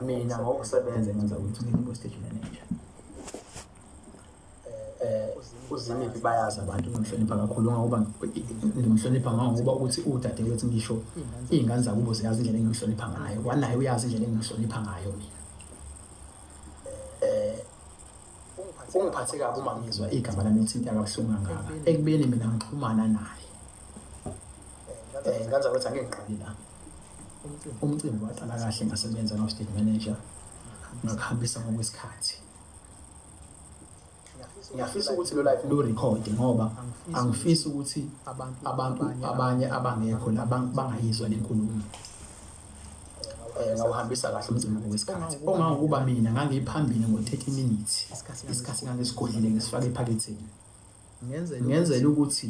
mina ngokusebenza ngenza ukuthi ngibe stage manager eh uzinike bayazi abantu ngimhlonipha kakhulu ngoba ngimhlonipha ngoba ukuthi udade wethu ngisho izingane zakubo ziyazi indlela engimhlonipha ngayo wanaye uyazi indlela engimhlonipha ngayo mina kungiphathe kabi uma ngizwa igama lami lithinta kabuhlungu kangaka ekubeni mina ngixhumana naye um ngenza ukuthi angeke ngiqali la umcimbi waqala kahle ngasebenza no-state manager ngakuhambisa ngokwesikhathi ngiyafisa ukuthi lo life lu-record ngoba angifisi ukuthi abantu abanye abangekho la bangayizwa le nkulumo eh, ngawuhambisa kahle umzimba ngokwesikhathi ongangokuba mina ngangiphambili ngo-30 minutes isikhathi ngangisigodlile ngisifake ephaketheni ngenzela ukuthi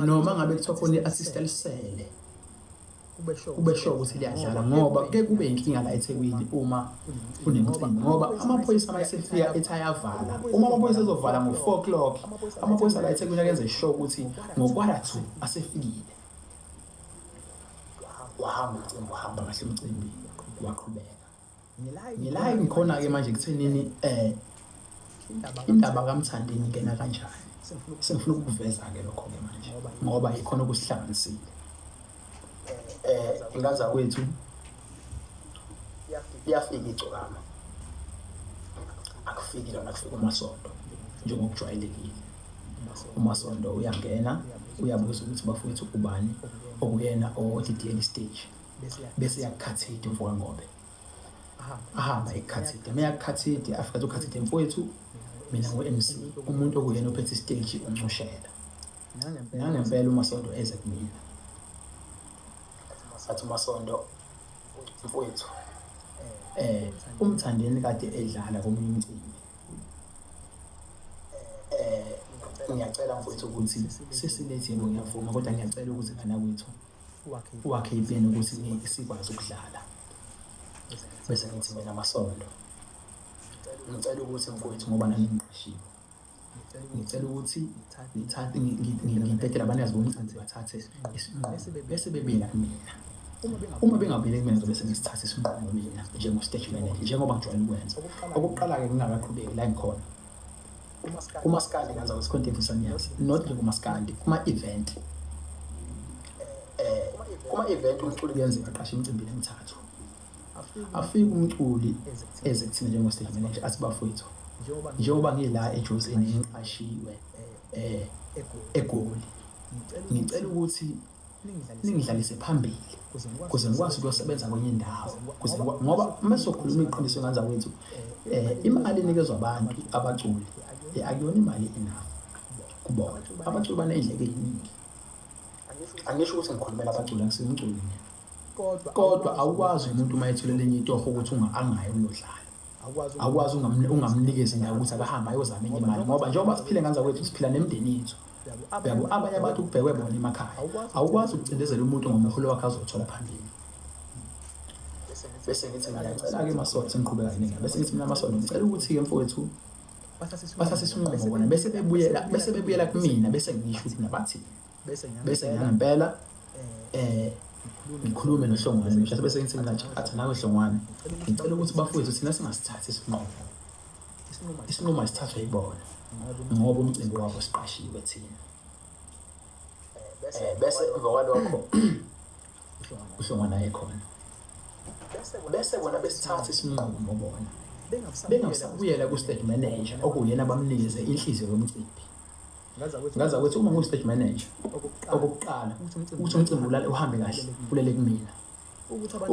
noma ngabe kuthiwa khona i-assist elisele kube sho ukuthi liyadlala ngoba ke kube inkinga la eThekwini uma kunemcimbi ngoba amaphoyisa uma esefika ethi ayavala uma amaphoyisa ezovala ngo-four o'clock amaphoyisa la eThekwini akenze sho ukuthi ngo-quarter two asefikile wahamba umcimbi wahamba kahle umcimbi waqhubeka ngilayi ngikhona-ke manje kuthenini um indaba kamthandini kena kanjani sengifuna ukukuveza-ke lokho-ke manje ngoba ikhona okusihlanganisile um ingaza kwethu iyafika igcokama akufiki lona kufika umasonto njengokujwayelekile uMasondo uyangena uyabuza ukuthi bafowethu ubani okuyena owodidiyela isiteji bese yakukhathide uvuka ngobe ahamba ekukhathide uma yakukhathide afika athi ukhathide mfowethu mina ngu-mc umuntu okuyena ophethe isiteji uncushela nangempela umasondo eze kumina athi umasondo mfowethu um umthandeni kade edlala komunye umcimbi ngiyacela mfowethu ukuthi sesinethembo ngiyavuma kodwa ngiyacela ukuthi ngana kwethu wakhe ipeni ukuthi sikwazi ukudlala bese ngithi mina amasondo ngicela ukuthi mfowethu ngoba nami ngiqashiwe ngicela ukuthi ngithathe ngibhedela abantu yazibona ukuthi bathathe isinqumo bese bebela kumina Uma bengamele kumenza bese ngisithatha isinqumo mina njengo-stage manager njengoba ngijwayele ukwenza. Okokuqala-ke ngingakaqhubeki la engikhona kumaskandi ngenza kwesikhontevu sanyazi not nje kumaskandi kuma-event kuma-event umculi kuyenzeka aqashe emcimbini emithathu afike umculi eze kuthina njengo-stage manager athi bafowethu njengoba ngila ejozini ngiqashiwe um egoli ngicela ukuthi ningidlalise phambili kuze ngikwazi ukuyosebenza kwenye indawo kuze ngoba uma sokhuluma iqiniso ngandza kwethu eh imali enikezwa abantu abaculi eh, akuyona imali enough kubona abaculi banendleke eziningi angisho ukuthi ngikhulumela abaculi angisingiculi mina kodwa awukwazi umuntu uma ethule lenye itoho ukuthi angayi uyodlala awukwazi ungamnikeza indawo ukuthi akahambe ayozama enye imali ngoba njengoba siphile nganza kwethu siphila nemindeni yethu yabo abanye abantu kubhekwe bona emakhaya awukwazi ukucindezela umuntu ngomholo wakhe azothola phambili bese ngithi ngiyacela-ke masonto sengiqhubeka ziningi bese ngithi mina masonto ngicela ukuthi-ke mfowethu bathatha isinqumo bona bese bebuyela bese bebuyela kumina bese ngisho ukuthi nabathi bese ngangempela eh ngikhulume nohlongwane mhlawumbe bese ngithi mina athi nawe hlongwane ngicela ukuthi bafowethu thina singasithathi isinqumo isinqumo isithathwa yibona ngoba umcimbi wabo siqashiwe thina eh, bese emva kwalokho uhlongana ekhona bese bona besithatha isinqumo bona bengasabuyela ku-state manager okuyena bamnikeze inhliziyo yomcimbi ngaza ukuthi uma ngu-state manager okokuqala ukuthi umcimbi ulale uhambe kahle kulele kumina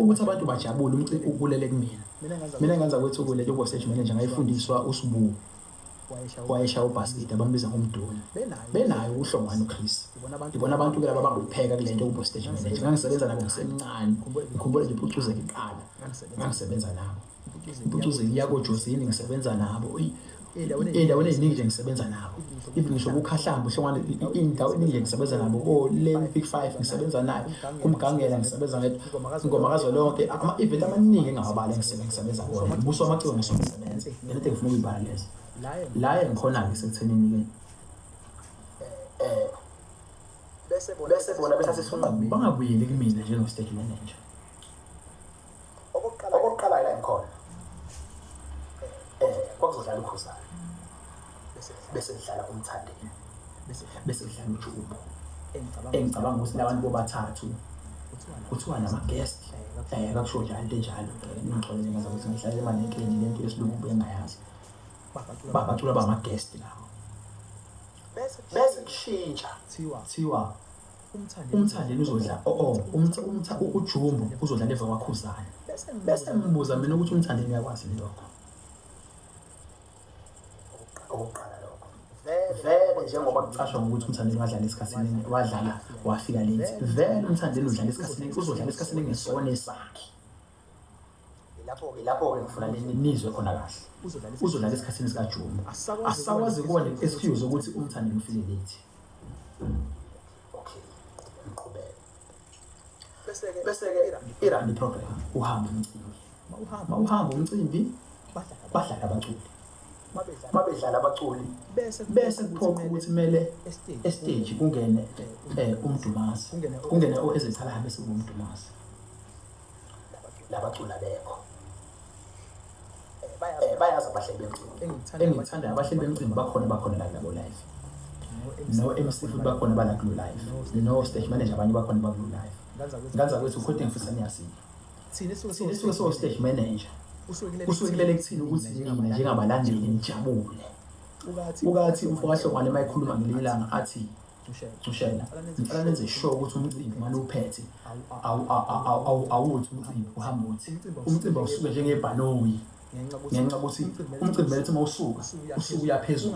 ukuthi abantu bajabule umciko ubulele kumina mina ngenza kwethukule lobo stage manager ngayifundiswa usibuku wayeshaya ubhasikidi abambiza ngomduna benayo ukuhlongana uchris ngibona abantu ke laba bangupheka kule nto kubo stage manager ngangisebenza nabo ngisemncane ngikhumbule nje phucuzeka iqala ngangisebenza nabo impucuzeli yakojozini ngisebenza nabo ey'ndaweni ey'ningi nje ngisebenza nabo even ngisho kukhahlamba uhlongwane iy'ndawo eningi nje ngisebenza nabo ko-lane big five ngisebenza nayo kumgangela ngisebenza nayo ingoma kazwelonke ama-event amaningi engawabala ngisebenza kuwona buso amaciko ngisho ngisebenza nento engifuna ukuyibala lezo la engikhona-ke sekuthenini-ke um bese bona bese sifuna bangabuyeli kumina njengo-state manager okokuqala la ngikhona um kwakuzodlala ukhuzana bese kudlala umthandeni bese kudlala ujubo engicabanga ukuthi labantu bobathathu kuthiwa nama-guest um kakusho njalo into enjalo ngingixolele ngaza ukuthi ngihlale emanekeni le nto yesilungu bengayazi babacula bama-guest lawo bese kushintsha thiwa umthandeni uzodla oo oh, oh, ujumbo uzodla leva kwakhuzane bese ngibuza mina ukuthi umthandeni uyakwazi lokho okokuqala lokho vele njengoba kucashwa ngokuthi umthandeni wadlala esikhathini wadlala wafika late vele umthandeni udlala esikhathini uzodlala esikhathini ngesone sakhe Ilapho-ke ilapho-ke ngifuna nizwe khona kahle uzodlala esikhathini sikajuma asisakwazi kuba ne-excuse ukuthi umthande ngifike late okay ngiqhubeke bese-ke bese-ke irandi program uhambe umcimbi ma uhamba umcimbi badlala abaculi babedlala abaculi bese kuphoqa ukuthi kumele estage kungene um umdumazi kungene oezethalaha bese kuwumdumazi labaculi abekho eh, bayazi abahleli bemcimbi engithandayo abahleli bemcimbi bakhona bakhona la nabo live no-mc futhi bakhona balakulo live no-stage manager abanye bakhona bakulo live nganza kwethu ukhoti ngifisa niyasini thina esuke so-stage manager usukelele kuthina ukuthi nina njengabalandeli nijabule ukathi umfokahlongwane uma ekhuluma ngelinye ilanga athi Thushela, ngicela nenze sure ukuthi umcimbi uma niwuphethe awuthi umcimbi uhamba uthi umcimbi awusuke njengebhanoyi ngenxa ukuthi umcimbi bethi uma usuka usuke uyaphezulu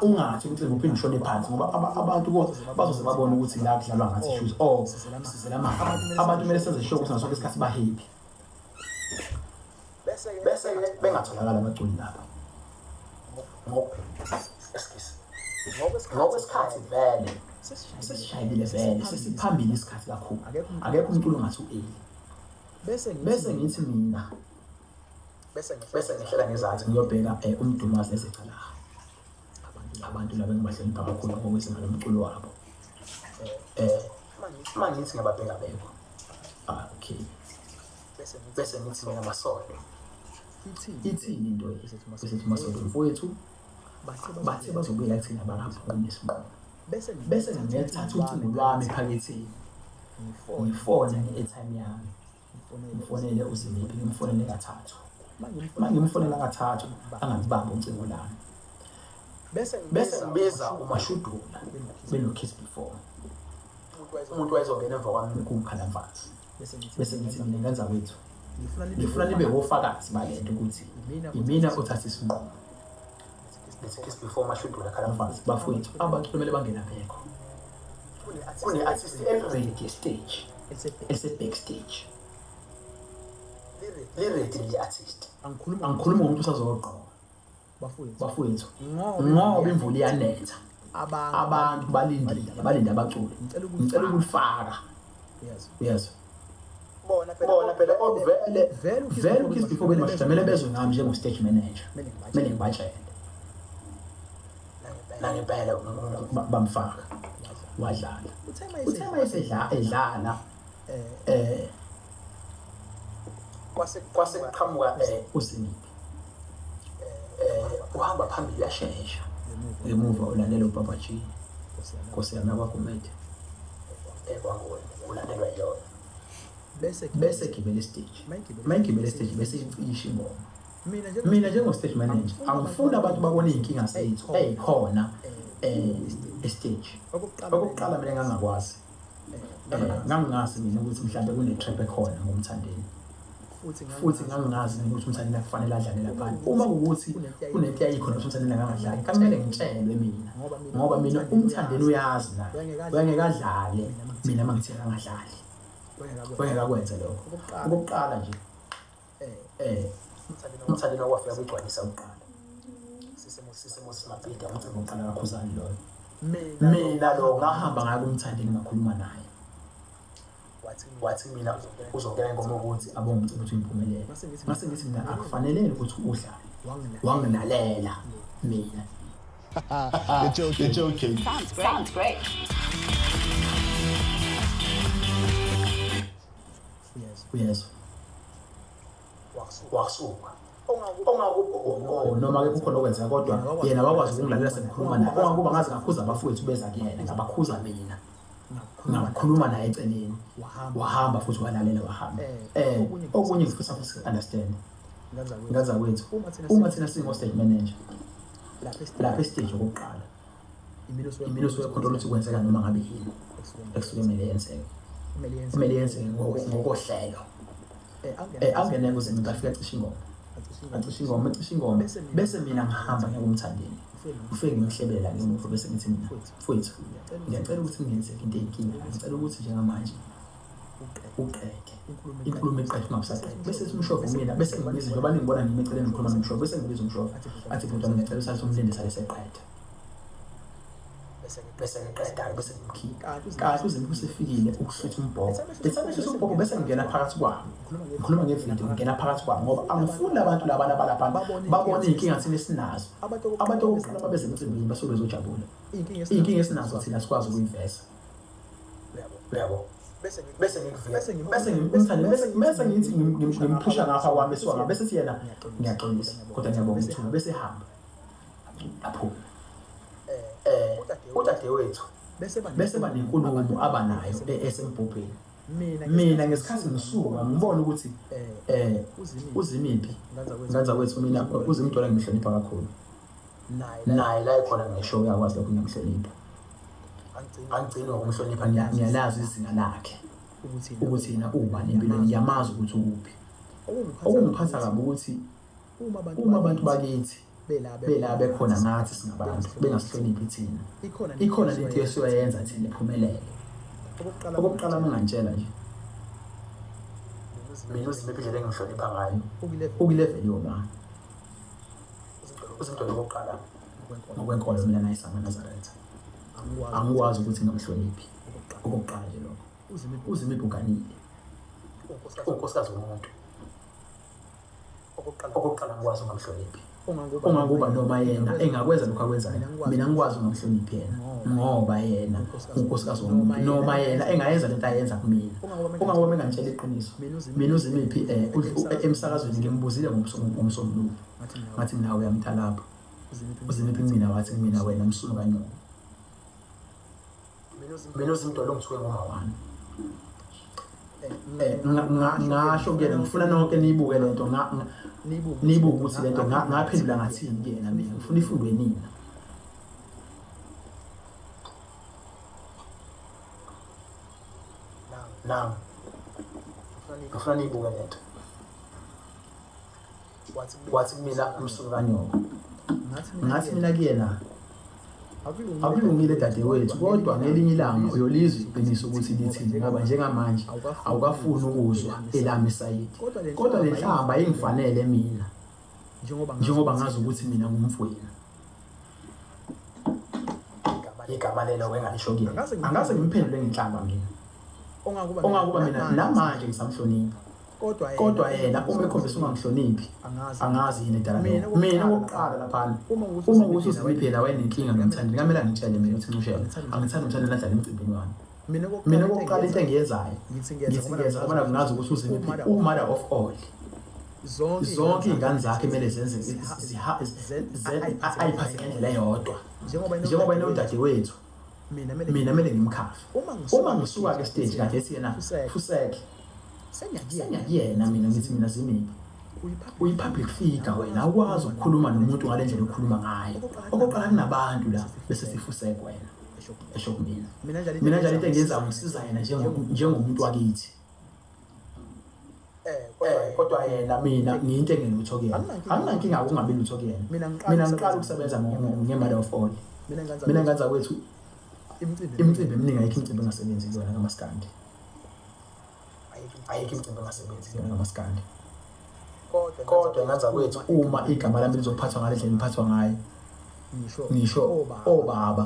ungathi umcimbi uphinde ushone phansi ngoba abantu bazoze babone ukuthi la kudlalwa ngathi shoes o oh, sizela mali abantu kumele senze sure ukuthi ngaso sonke isikhathi bahappy bese bengatholakala abaculi laba ngokwesikhathi vele sesishayile vele sesiphambili isikhathi kakhulu akekho umculo ongathi u-eli bese ngithi mina bese ngihlela ngezansi ngiyobheka um eh, umdumazi nezicalaha abantu laba engibahlonipha kakhulu ngokwezinga lomculo wabo um uma ngithi ngiyababheka bekho ah, okay bese ngithi mina masole ithini into esithi masole mfowethu bathe bazobuyela kuthina bangaphumi isinqumo bese ngiyathatha ucingo lwami ephaketheni ngifone nge-airtime yami ngifonele uzimiphi ngimfonele kathathu uma ngimfonela kathathu angangibambi ucingo lami bese ngibiza umashudula benokiss before umuntu wayezongena emva kwami kungikhala mfazi bese ngithi mina ngenza kwethu ngifuna nibe wofakazi balento ukuthi imina othatha isinqumo ngesikhathi before amashudu lakhala mfazi bafowethu abantu kumele bangena phekho kune-artist eliredi yestage ese-backstage liredi le-artist angikhulumi ngomuntu usazogqoka bafowethu ngoba imvula iyanetha abantu balindile balinde abaculi ngicela ukulifaka yes bona phela bona phela okuvele vele vele ukis before bena bajamele bezwe ngami njengo stage manager mina ngibatshele la ngempela bamfaka wadlala uthe uma esedlala edlala eh, eh kwase kwase qhamuka eh usiniphi eh, uhamba phambili uyashesha emuva ulandela ubaba G Nkosi yami abakumede ekwakuwe ulandelwa yona bese gibela isiteji mayigibela isiteji bese icisha ingoma mina njengo-stage manager angifuni abantu babone iy'nkinga zethu ey'khona um eh, esiteji okokuqala mina ngangakwazi eh, ngangingazi mina ukuthi mhlawumbe kune-trap ekhona ngomthandeni futhi ngangingazi mina ukuthi umthandeni akufanele adlale laphana uma kuwukuthi kunento yayikhona ukuthi umthandeni angangadlali kakumele ngitshelwe mina ngoba mina umthandeni uyazi na uyangeke adlale mina uma ngithe angadlali uyangeke akwenze lokho okokuqala nje umthalika wafika kugcwalisa kuqala sisimo simabhida umcimbi uqala kakhuzani loyo mina lo ngahamba ngayo kumthandeni ngakhuluma naye wathi mina uzongena ingoma ukuthi abonge umcimbi ukuthi ngiphumelele mase ngithi mina akufanelele ukuthi udlale wangilalela mina You're joking. You're joking. Sounds great. Sounds great. uyezwa wasuka ongakubhoko noma ke kukhona okwenzeka kodwa yena wakwazi ukungilalela sengikhuluma naye ongakuba ngaze ngakhuza abafowethu beza kuyena ngabakhuza mina ngakhuluma naye eceleni wahamba futhi walalela wahamba um okunye ngifisa understand ngazakwethu uma thina singo-state manager lapha esiteji okokuqala iminuso yokhontrola ukuthi kwenzeka noma ngabe yini ekusuke kumele yenzeke kumele yenzeke ngokohlelo um angene kuzimi afike acishe ingoma acishe ingoma acishe ingoma bese mina ngihamba ngiyakumthandeni ufike ngimhlebela ke umuntu bese ngithi mina mfowethu ngiyacela ukuthi ngenzeke into eyinkinga ngicela ukuthi njengamanje uqede inkulumo eqede ungabusaqedi bese simshova umina bese ngibiza njengoba ningibona ngime eceleni ngikhuluma nomshova bese ngibiza umshova athi bhuti wami ngiyacela usase umlinde sale seqede bese ngiqedayo bese ngimkhipha kahle uze kusefikile ukuhlutha umbhoko bese ngihlutha umbhoko bese ngingena phakathi kwabo ngikhuluma ngevidiyo ngingena phakathi kwabo ngoba angifuni abantu laba nabalapha babone inkinga thina esinazo abantu okuqala babeze emcimbini basuke bezojabula iy'nkinga esinazo thina sikwazi ukuyiveza uyabo bese bese ngithi ngimphusha ngapha kwami esiwanga bese siyena ngiyaxolisa kodwa ngiyabonga ithuba bese hamba aphume um udadewethu bese banenkulumo abanayo e-, esembhubheni mina ngesikhathi ngisuka ngibona ukuthi um uzimiphi nganza kwethu mina uzimntwana ngimhlonipha kakhulu naye la ekhona ngisho uyakwazi lokho ngiyamhlonipha angigcini ngokumhlonipha ngiyalazi izinga lakhe ukuthi yena ubani empilweni ngiyamazi ukuthi ukuphi okungiphatha kabi ukuthi Uma abantu bakithi bela bekhona ngathi singabantu bengasihloniphi thina. Ikhona lento esiyoyenza thina iphumelele. Okokuqala mengantshela nje. Mina uzimephi indlela engimhlonipha ngayo. Ukuleveli yoma. Uzimdolo okokuqala ngokwenkolo mina nayisama Nazareth. Angikwazi ukuthi ngamhloniphi. Okokuqala nje lokho. Uzimephi uganile. Unkosikazi womuntu. okokuqala ngikwazi ungamhloniphi uma kuba noma yena engakwenza lokhu akwenzayo mina ngikwazi ungamhloniphi yena ngoba yena unkosikazi womuntu noma yena engayenza lento ayenza kumina uma ngoba engangitshela iqiniso mina uzimiphi um eh, emsakazweni ngimbuzile ngomsombuluko ngathi mina uyamtha lapho uzimiphi kumina wathi kumina wena msulu kanyoko mina uzimdolo ngisuke ngoma wami eh, ngasho kuyena ngifuna nonke niyibuke le nto niyibuke ukuthi le nto ngaphendula ngathini kuyena mina ngifuna ifundwe nina now ngifuna niyibuke le nto wathi kumina umsuku kanyoko ngathi mina kuyena akulungile dadewethu kodwa ngelinye ilanga uyolizwa iqiniso ukuthi lithini ngoba njengamanje awukafuni ukuzwa elami sayidi kodwa le nhlamba ayingifanele mina njengoba ngazi ukuthi mina ngumfwenu igama lelo wengalishoki angase ngimphendule ngenhlamba mina ongakuba mina namanje ngisamhlonipha kodwa yena uma ekhombisa ungamhloniphi angazi yini edala mina okokuqala laphana uma ukuthi uziphila wayenenkinga nomthandi ngamele angitshele mina ukuthi ncushela angithandi umthandi nadlala emcimbini wami mina kokuqala into engiyenzayo ngithi ngiyeza ngoba ngazi ukuthi uzimiphi umother of all zonke iy'ngane zakhe kumele zenze ayiphathe ngendlela eyodwa njengoba yena udadewethu mina kumele ngimkhafe uma ngisuka-ke stage kade ethi yena fuseke sengiyakuyena mina ngithi mina zimiphi uyi-public figure wena awukwazi ukukhuluma nomuntu ngale ndlela okhuluma ngayo okokuqala kunabantu la bese sifuseke wena esho kumina mina njalo mina njalo into engenza ukusiza yena njengomuntu wakithi eh, eh kodwa yena mina ngiyinto engelutho kuyena anginankinga ukungabi lutho kuyena mina ngiqala ukusebenza ngemali of all mina ngenza kwethu imicimbi eminingi ayikho imicimbi engasebenzi kuyona kamaskandi ayikho imicimbi engasebenzi kuyona nomaskandi kodwa ngenza kwethu uma igama lami lizophathwa ngale ndlela liphathwa ngayo ngisho obaba